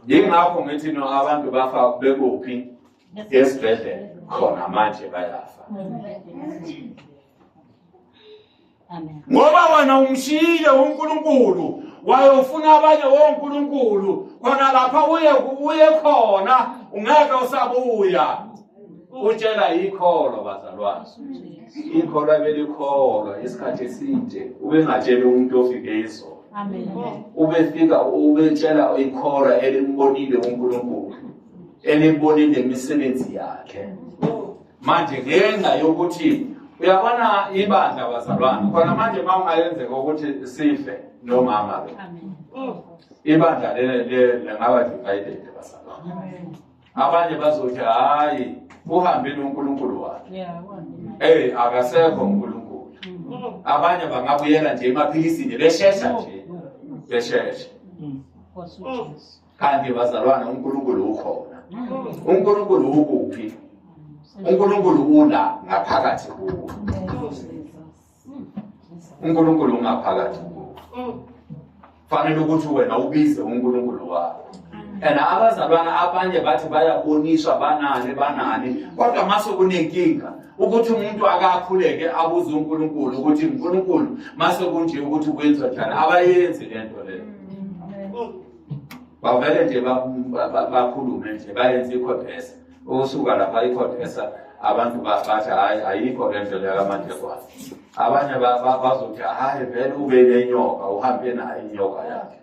yingakho ngithi no abantu bafa bekuphi esibhedlela khona manje bayafa ngoba wena umshiyile unkulunkulu wayofuna abanye wonkulunkulu khona lapha uye uye khona ungeke usabuya utshela ikholo bazalwane ikholo abelikholwa isikhathi eside ubengatsheli umuntu ofike izolo ubefika ubetshela ikhora elimbonile uNkulunkulu elibonile imisebenzi yakhe manje ngenxa yokuthi uyabona ibandla bazalwane khona manje uma ungayenzeka ukuthi sife nomama-ke ibandla lengaba divided bazalwane abanye bazothi hayi uhambile uNkulunkulu wakhe yeah hey akasekho uNkulunkulu mm. abanye bangabuyela nje emaphilisini beshesha nje beshesha mm. kanti bazalwana uNkulunkulu ukhona mm. uNkulunkulu ukuphi uNkulunkulu ula ngaphakathi kuwe uNkulunkulu ungaphakathi kuwe fanele ukuthi wena ubize uNkulunkulu wakho and abazalwana abanye bathi bayaboniswa banani banani kodwa mase kunenkinga ukuthi umuntu akakhuleke abuze uNkulunkulu ukuthi uNkulunkulu mase kunje ukuthi kwenza njani abayenzi lento leyo bavele nje bakhulume nje bayenze ikhobhesa ukusuka lapha ikhona esa abantu bathi hayi ayikho le ndlela yakamanjegwana abanye bazothi hayi vele ube nenyoka uhambe nayo inyoka yakhe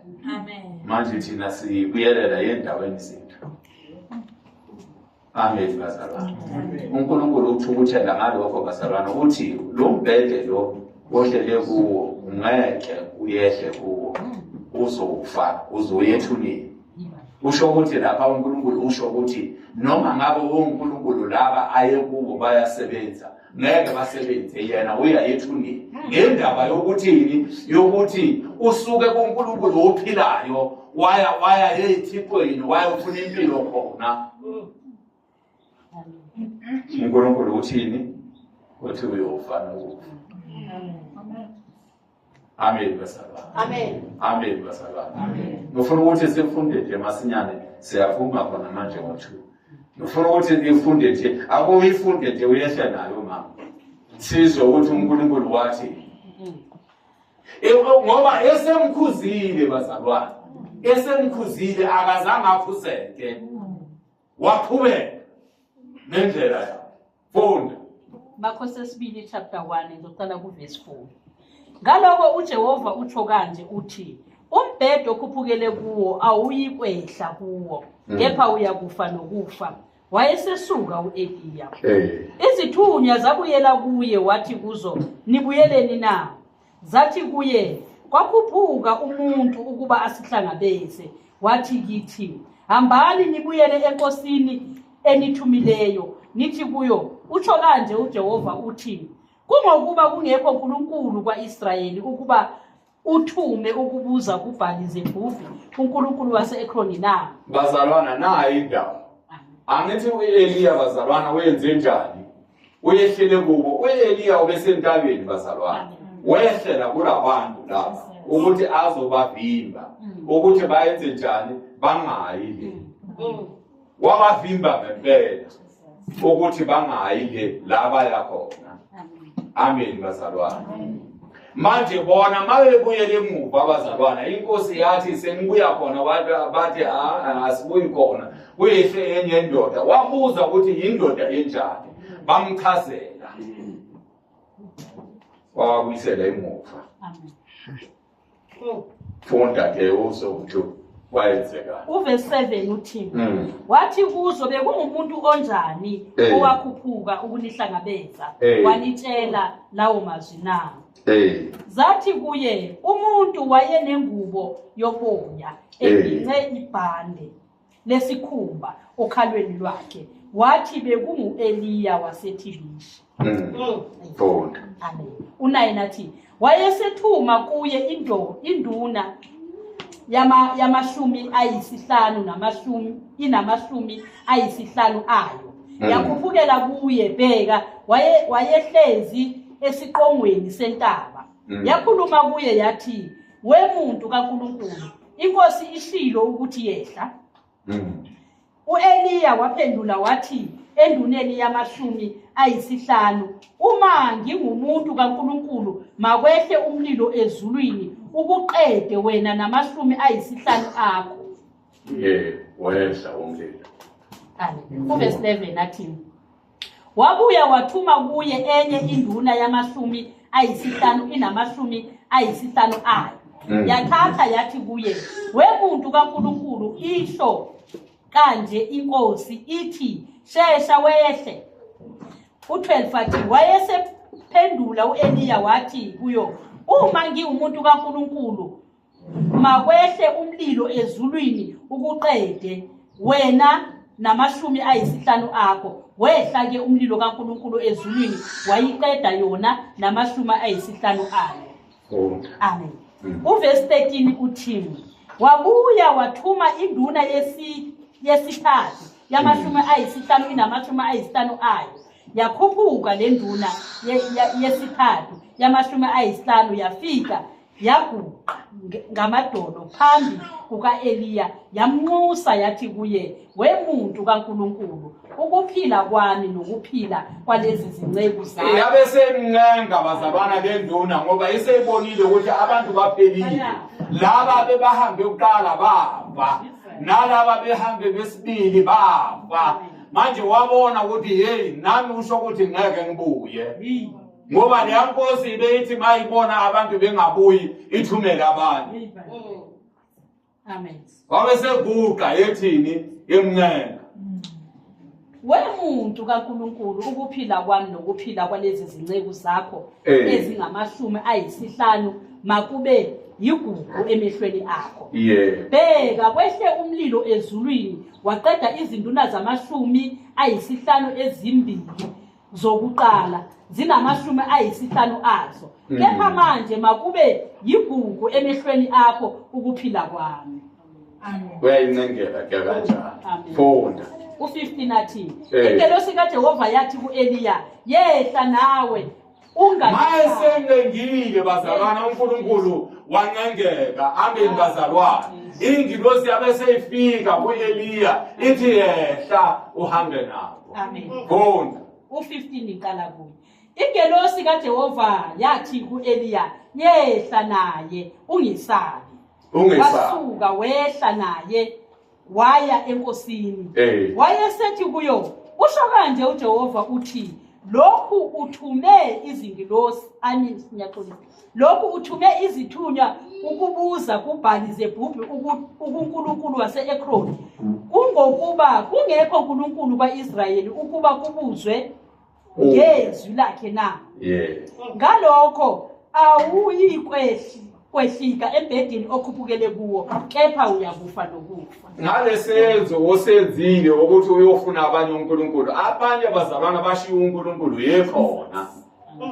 manje thina sibuyelela yendaweni zethu amen bazalwane unkulunkulu uthukuthela ngalokho bazalwane ukuthi lo mbhede lo ohlele kuwo ngeke uyehle kuwo uzofa uzoyethulile usho ukuthi lapha uNkulunkulu usho ukuthi noma ngabe uNkulunkulu laba ayekubo bayasebenza ngeke basebenze yena uyayethulile ngendaba yokuthini yokuthi usuke kuNkulunkulu ophilayo waya waya ezithixweni wayofuna impilo khona unkulunkulu uthini uthi uyofa nokufa amen basalwane amen amen basalwane amen ngifuna ukuthi sifunde nje masinyane siyaphuma khona manje ngo-two ngifuna ukuthi nifunde nje akuyifunde nje uyehle nayo mama sizwe ukuthi unkulunkulu wathi ngoba esemkhuzile bazalwane esemkhuzile akazange aphuseke waqhubeka nendlela yakhe funda bakho sesibili chapter 1 ngizocala kuvesi 4 ngaloko ujehova utsho kanje uthi umbhedo okhuphukele kuwo awuyikwehla kuwo hmm. kepha uyakufa nokufa wayesesuka u-eliya izithunywa zabuyela kuye wathi kuzo nibuyeleni na Zathi kuye, Kwakhuphuka umuntu ukuba asihlangabeze, wathi kithi, Hambani nibuyele enkosini enithumileyo, nithi kuyo, Utsho kanje uJehova uthi, Kungokuba kungekho Nkulunkulu kwa-Israyeli ukuba uthume ukubuza kubhali zebhuvi unkulunkulu wase-ekroni na bazalwana nayo indawo angithi u-eliya bazalwana wenze njani uyehlele kubo u-eliya ubesentabeni bazalwane wehlela kulabantu laba ukuthi azobavimba mm. ukuthi bayenze njani bangayi le mm. wabavimba ngempela ukuthi bangayi le la baya khona amen bazalwane Manje bona mabebuyela emuva abazalwana inkosi yathi senibuya khona abantu abathi asibuyi khona kuyihle enye indoda wabuza ukuthi yindoda enjani bamchazela wawabuyisela emuva funda ke uzokuthi kwayenzekani uvesi 7 uthi mm. wathi kuzo bekungumuntu onjani hey. Eh. owakhuphuka ukunihlangabeza hey. Eh. wanitshela lawo mazwi na hey. Eh. zathi kuye umuntu wayenengubo yoboya egince hey. ibhande lesikhumba okhalweni lwakhe wathi bekungu-eliya wasethilisha Bonda. Amen. Unaye nathi wayesethuma kuye indo induna yama yamashumi ayisihlanu namashumi inamashumi ayisihlanu ayo. Mm. Yakhuphukela kuye bheka waye wayehlezi esiqongweni sentaba. Mm. Yakhuluma kuye yathi we muntu kaNkuluNkulu inkosi ishilo ukuthi yehla. U-Eliya waphendula wathi enduneni yamashumi ayisihlanu, Uma ngingumuntu kaNkulunkulu, makwehle umlilo ezulwini ukuqede wena namashumi ayisihlanu akho. Ye, wehla umlilo. Kale, uvesi 11 athini? wabuya wathuma kuye enye induna yamashumi ayisihlanu inamashumi ayisihlanu ayo mm. yathatha yathi kuye wemuntu kaNkulunkulu isho kanje inkosi ithi shesha wehle u12 wathi wayesephendula uEliya wathi kuyo uma ngiwumuntu kaNkulunkulu makwehle umlilo ezulwini ukuqede wena namashumi ayisihlanu akho wehla ke umlilo kaNkuluNkulu ezulwini wayiqeda yona namashumi ayisihlanu ayo amen mm. uvesi 13 uthini wabuya wathuma induna yesithathu yamashumi mm. ayisihlanu inamashumi ayisihlanu ayo yakhuphuka le nduna yesithathu yamashumi ayisihlanu yafika yaguqa ngamadolo phambi kuka-eliya yamnxusa yathi kuye wemuntu kankulunkulu ukuphila kwami nokuphila kwalezi zinceku zayabe semncenga bazalwana benduna ngoba iseyibonile ukuthi abantu baphelile laba bebahambe kuqala bafa nalaba behambe besibili bafa manje wabona ukuthi heyi nami usho ukuthi ngeke ngibuye ngoba leya nkosi ibeyithi mayibona abantu bengabuyi ithumele abanye wabe seguqa yethini emncenga wemuntu kaNkuluNkulu ukuphila kwami nokuphila kwalezi zinceku zakho eh. ezingamashumi ayisihlanu makube yigugu emehlweni akho bheka kwehle umlilo ezulwini waqeda izinduna zamashumi ayisihlanu ezimbili zokuqala zinamashumi ayisihlanu azo mm. kepha manje makube yigugu emehlweni akho ukuphila kwami uyayincengela ke kanjalo funda u-15 athi eh. ingelosi kajehova yathi ku-eliya yehla nawe mayesengengile bazalwana unkulunkulu wancengeka ambeni bazalwana ingilosi yabe seyifika ku-eliya ithi yehla uhambe nawo Amen. Funda. U-15 iqala kuye. Ingelosi kaJehova yathi ku-Eliya, "Yehla naye, ungesabi." Ungesabi. Wasuka wehla naye waya enkosini. Eh. Wayesethi kuyo, "Usho kanje uJehova uthi, lokhu uthume izingilosi ani sinyaxolisa Lokhu uthume izithunywa ukubuza kubhali zebhubhi ukunkulunkulu wase-ekroni kungokuba kungekho nkulunkulu kwa-israyeli ukuba kubuzwe oh. ngezwi lakhe na ngalokho awuyikwehlika embhedeni okhuphukele kuwo kepha uyakufa nokufa ngalesenzo osenzile ukuthi uyofuna abanye unkulunkulu abanye abazalwana bashiye unkulunkulu yekhona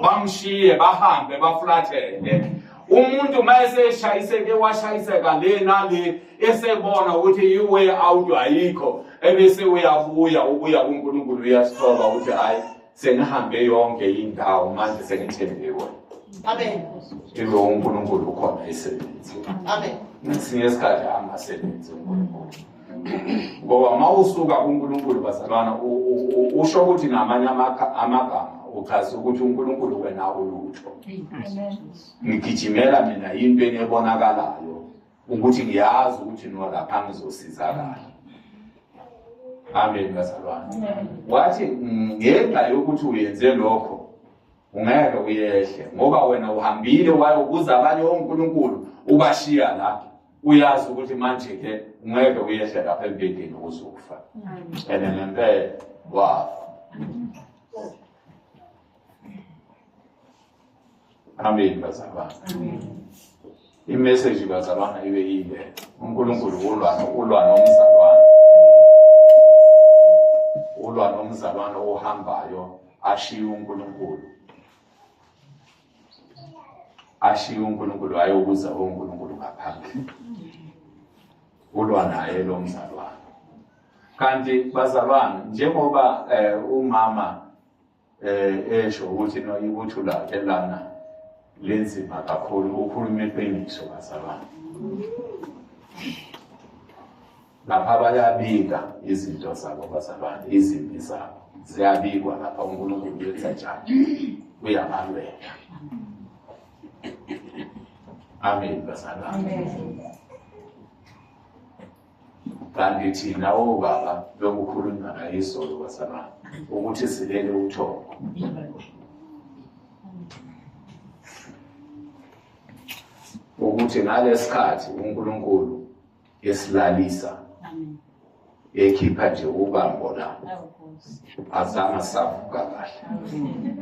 bamshiye bahambe baflathele umuntu uma eseshayiseke washayiseka le nale esebona ukuthi iway out ayikho ebese uyabuya ubuya kunkulunkulu uyasithoba ukuthi hhayi sengihambe yonke indawo manje sengithembiwe amen ibe unkulunkulu ukhona isebenzi amen ngesinye isikhathi angasebenzi unkulunkulu ngoba uma usuka kunkulunkulu bazalwana usho ukuthi ngamanye amagama uchaza ukuthi unkulunkulu wena ulutho ngigijimela mina yinto enebonakalayo ukuthi ngiyazi ukuthi nolapha ngizosizakala amen bazalwana wathi ngenxa yokuthi uyenze lokho ungeke uyehle ngoba wena uhambile wayokuza abanye onkulunkulu ubashiya lapho uyazi ukuthi manje-ke ngeke uyehle lapha embedeni uzofa and ngempela wafa amen bazalwane imeseji bazalwana ibe yile unkulunkulu ulwana ulwa nomzalwane ulwa nomzalwane ohambayo ashiye unkulunkulu ashiye uNkulunkulu hayi ukuza uNkulunkulu ngaphandle ulwa naye lo mzalwane kanti bazalwane njengoba eh, umama eh, esho ukuthi no ibuthu lakhe lana lenzima kakhulu ukhuluma iqiniso bazalwane lapha bayabika izinto zabo bazalwane izimpi zabo ziyabikwa lapha unkulunkulu uyenza njani uyabalwela amen bazalwane kanti thina obaba bekukhulunywa ngayizolo bazalwane ukuthi silele uthoko ukuthi ngalesikhathi uNkulunkulu yesilalisa ekhipha nje ubambo la azange savuka kahle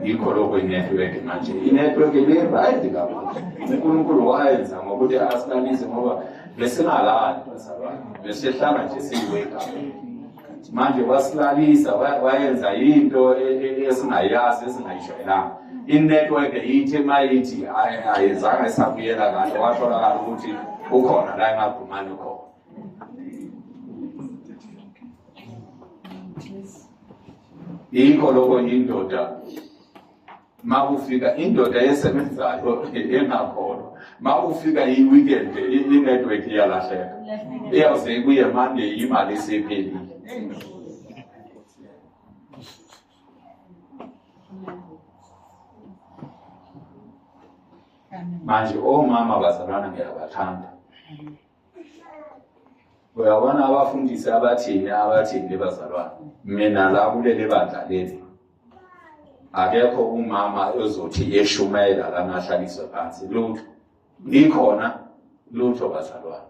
yikho lokho inetwork manje inetwork ibirayidi kakhulu unkulunkulu wayenza ngokuthi asilalise ngoba besingalali besehlala nje siyiweka manje wasilalisa wayenza into e, e, esingayazi esingayijwayelanga inetwork yithi mayithi ayizange isabuyela kahle watholakala ukuthi ukhona la engagumani khona yikho lokho yindoda makufika indoda esebenzayo engakhona makufika i-weekend i-network iyalahleka iyawuze ibuye mande imali isiphelile manje omama bazalwana ngiyabathanda uyabona abafundisi abathini abathini bazalwane mina la kuleli bandla leli akekho umama ozothi yeshumayela lana ahlaliswe phansi lutho ngikhona lutho bazalwane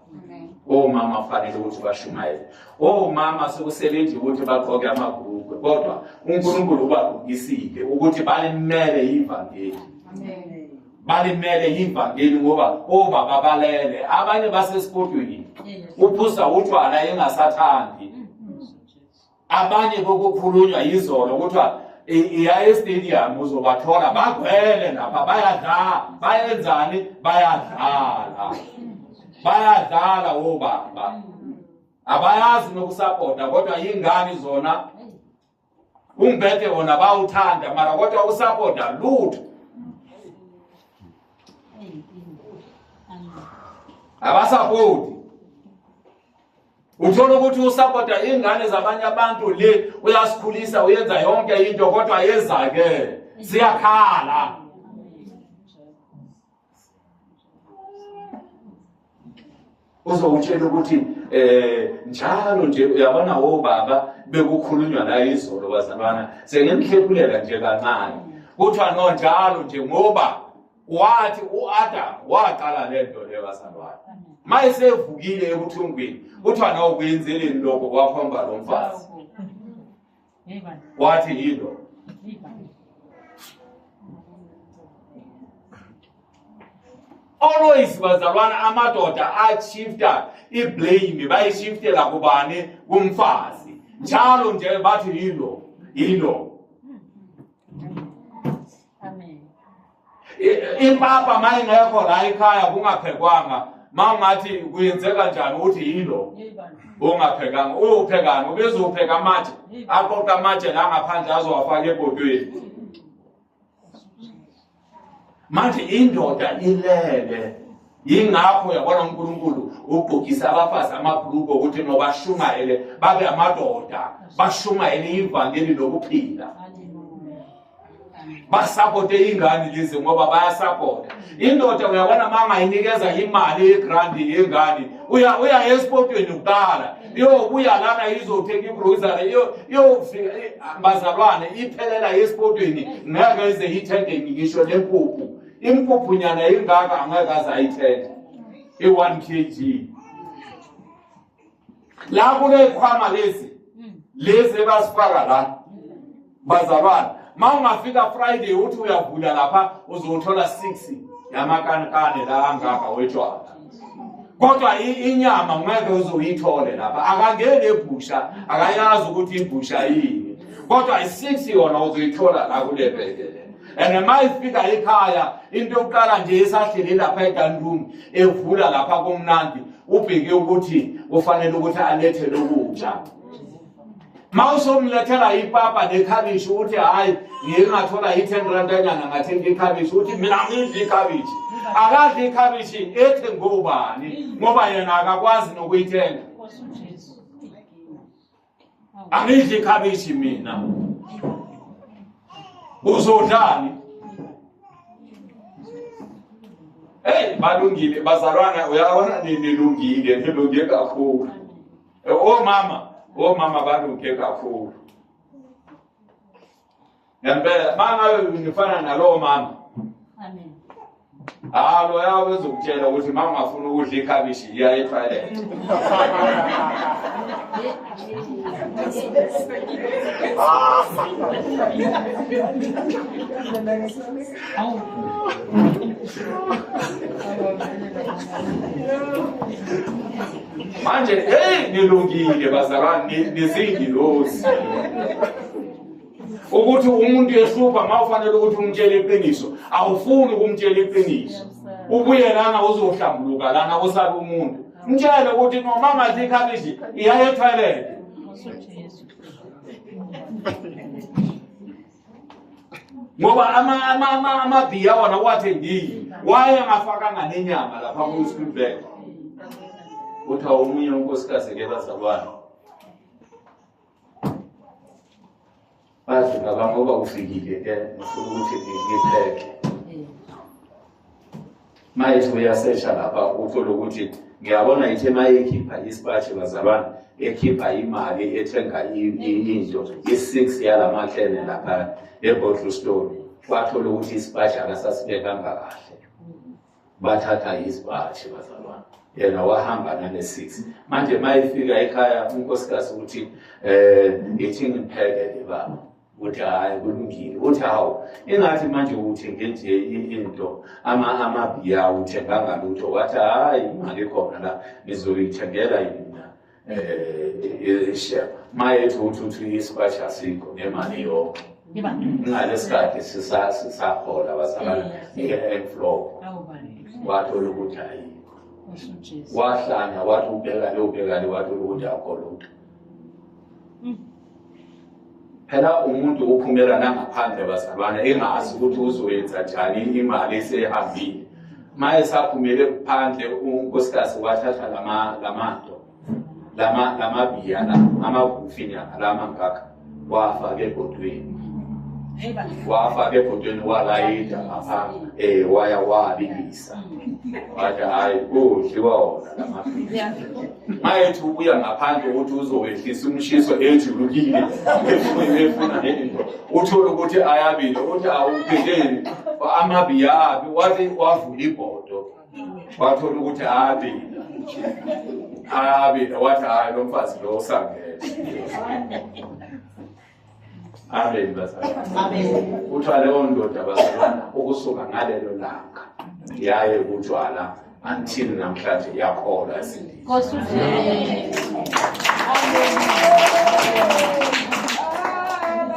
omama fanele ukuthi bashumayele omama sekusebenzi ukuthi bagqoke amabhukwe kodwa unkulunkulu ubagqokisile ukuthi balimele ivangeli balimele yivangeli ngoba obaba balele abanye basesigodweni uphusa utshwala engasathandi abanye kokukhulunywa yizolo kuthiwa iya estadium uzobathola bagwele lapha bayadlala bayenzani bayadlala bayadlala obaba abayazi nokusapota kodwa yingani zona umbhede wona bawuthanda mara kodwa usapoda lutho abasapoti uthola ukuthi usapota ingane zabanye abantu le uyasikhulisa uyenza yonke into kodwa yezakele siyakhala uzowutshela ukuthi eh njalo nje uyabona obaba bekukhulunywa la izolo bazalwana sengenihlepulela nje kancane kuthiwa no njalo nje ngoba wathi uAdam waqala le nto le bazalwana mayesevukile ebuthungwini kuthiwa na ukwenzeleni lokho kwakhomba lo mfazi wathi yilo always bazalwana amadoda ashifta iblame bayishiftela kubani kumfazi njalo nje bathi yilo yilo impapa uma ingekho la ekhaya kungaphekwanga ma ungathi kuyenzeka njani ukuthi yilo ungaphekanga uyophekani ubezopheka amatshe aqoqe amatshe la ngaphandle azowafaka ebhodweni manje indoda ilele yingakho yabona unkulunkulu ugqokisa abafazi amabhuluko ukuthi nobashumayele babe amadoda bashumayele ivangeli lokuphila basapote ingane lezi ngoba bayasapota indoda uyabona uma ngayinikeza imali yegrandi yengane uya uya esipotweni kuqala iyobuya lana izothenga igrocery iyofika bazalwane iphelela esipotweni ngeke ize ithenge ngisho lempuphu impuphu nyana ingaka angeke aze ayithenge i-one k g la kunezikhwama lezi lezi ebasifaka la bazalwane ma ungafika friday uthi uyavula lapha uzothola six yamakankane la angaka wetshwala kodwa inyama ngeke uzoyithole lapha akangeni ebhusha akayazi ukuthi ibhusha yini kodwa i-six yona uzoyithola la kule bheke and uma ifika ekhaya into yokuqala nje esahlele lapha edanroom evula lapha komnandi ubheke ukuthi kufanele ukuthi alethe lokudla ma usomlethela ipapa nekhabishi uthi hhayi ngike ngathola i-ten randanyana ngathenga ikhabishi uthi mina ngidla ikhabishi akadla ikhabishi ethi ngobani ngoba yena akakwazi nokuyithenga angidli ikhabishi mina uzodlani Hey balungile bazalwana uyabona nilungile nilunge kakhulu omama omama balunge kakhulu ngempela mangabe ngifana nalowo mama amen hayi loya wezokutshela ukuthi uma ungafuni ukudla ikhabishi yiya etoilet manje heyi nilungile bazalwane nizingilozi ukuthi umuntu ehlupha ma ufanele ukuthi umtshele iqiniso awufuni ukumtshela iqiniso ubuye lana uzohlambuluka lana kusabe umuntu mtshele ukuthi noma ngathi ikhabishi iyaye ethoyilete ngoba amabhiya wona uwathembile waye ngafakanga nenyama lapha kuspilbek kuthiwa omunye unkosikazi ke bazalwane bazi baba ngoba ufikile ke ngifuna ukuthi ngipheke mayethi uyasesha lapha uthole ukuthi ngiyabona ithe mayekhipha isipatshe bazalwane ekhipha imali ethenga into i-six yala maklene lapha ebottle store wathola ukuthi isipatshe akasasibekanga kahle bathatha izibhashi bazalwane yena wahamba nane-six manje ma ifika ekhaya unkosikazi ukuthi um eh, ngithi ngipheke-ke baba ukuthi hhayi kulungile uthi hawu ingathi manje uthenge nje into amabiya uthenganga lutho wathi hhayi imali khona la ngizoyithengela yini eh ishiya maye uthi uthi isipashi asikho nemali yonke ngalesikhathi sisahola bazalana nge-flow wathola ukuthi ayikho wahlanya wathi ubhekane ubhekane wathola ukuthi akho lutho phela umuntu uphumela nangaphandle bazalwane engazi ukuthi uzoyenza njani imali esehambile ma esaphumele phandle unkosikazi wathatha lamanto lamabiya la amagufinyana lamangaka wafaka ebhodweni wafaka ebhodweni walayida ngapha um eh, waya wabilisa wathi hayi udliwa wona lamaphilisi mayethi ubuya ngaphandle ukuthi uzowehlisa umshiso ejulukile efuna nento uthole ukuthi ayabile uthi awupheleni amabiyabi wathi wavula ibhodo wathola ukuthi ayabile ayabile wathi hayi lo mfazi lo usangele Amen bazalwane. Amen. Kuthiwa leyo ndoda bazalwana ukusuka ngalelo langa yaye kutshwala until namhlanje yakholwa esindile. Nkosi uJesu. Amen.